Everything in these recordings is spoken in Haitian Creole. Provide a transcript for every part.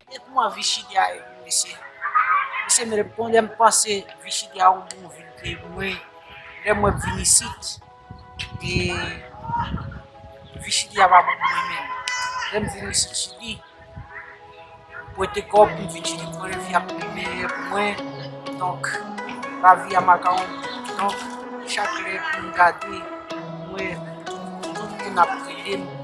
Epi m wè vichidia e wi mesye. Mesye m rep konn lèm panse vichidia yon bon vil ke mwen lè mwen vin isit e vichidia pa bon pou mwen menm. Lèm vin isit chili m wete kòb m vin chili m wè lavi a pi meyè pou mwen donk lavi a makawon donk chak lè pou m gade m wè tout moun ap rele m.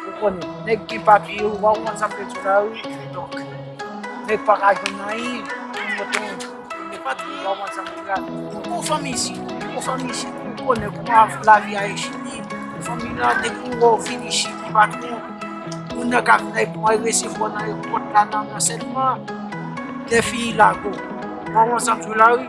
Ou konnen, nèg gen papye yo, wap konn sa mwen di la wi, kidonk, nèg pa ka jwenn anyen, kote ou ye, ou gen papye yo, wap konn sa mwen di la. Ou gon fanmi isit, ou gon fanmi isit, ou konnen kouman lavi a ye chili, fanmi lan depi ou wè ou vin isit, ou pa tro, moun nan ka vin avèk mwa, resevwa ou nan èpòt la, nan ansètman, lè fini lago. Wap konn sa mwen di la wi.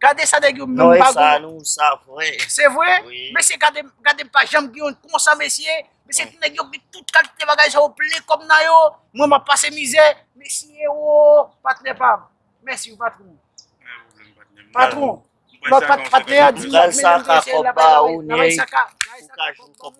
Gade sa nèg yo menm pa gon. Noy sa nou sa vre. Se vre? Wi. Mesye gade gade pa janm gen yon konsa mesye. Mesye ti nèg yo gen tout kalite bagay sa yo plen kòm nan yo. Mwen map pase mizè. Mesye woo patnè pam. Mèsi wi patron. Pa gen pwoblèm patnè m. Patron. Lòt patnè a di. Bagay sa ka kòb ba ou nèy. Bagay sa ka. Bagay sa ka kòb ba ou.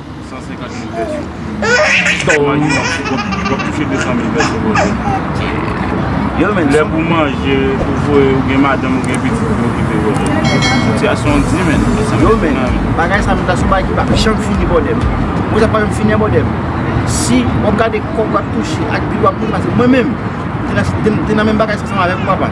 150 mil vèsyon. Imajine wap sou kont, wap touche 200 mil vèsyon pa jou. Lè pou manje, pou voye, ou gen madanm, ou gen pitit pou okipe bòdè. Sityasyon an di men. Yo men, bagay sa menm, se bagay ki pa janm fini bòdè. Ou wè sa pa janm fini an bòdè. Si wap gade kòb wap touche ak bil wap touche, mwen menm, mwen te nan menm bagay sa ansanm avèk ou papa.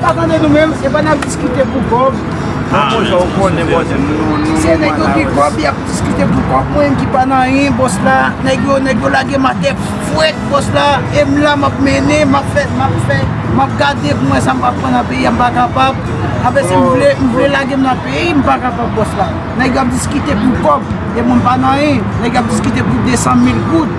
Pa konnen nou menm, se pa nap diskite pou kob. An bon jan ou konnen bòs m nou nou. Se nèg yo ki kob yap diskite pou kob mwen menm ki pa nan anyen bòs la. Nèg yo nèg yo lage m atè fwèt bòs la e m la map mennen map fè map fè map gade pou m wè sa m pral pran nan peyi a m pa kapab. Apre se m vle m vle lage m nan peyi m pa kapab bòs la. Nèg yo ap diskite pou kob e mwen m pa nan anyen. Nèg yo ap diskite pou 200 mil goud.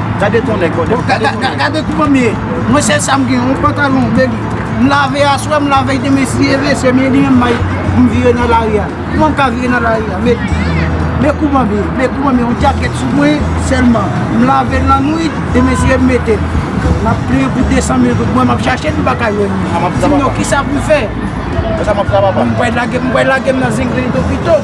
Gade ton nèg kòde. Gade kou bon ye. Mwen sèl sa m gen yon pantalon de li. M lave aswè, m lave l demen si e vle se men li menm may pou m vire nan lari a. Kouman m ka vire nan lari a met. Men kou bon ye. Men kou bon ye. Yon djakèt sou mwen sèlman. M lave l nan nwit demen si e m mete l. M ap plenyen pou 200 mil goud. Mwen m ap chache l m pa ka jwenn li. Di m non kisa pou m fè. Kisa m ap fè papa. M kwè lage m nan zenglen topito.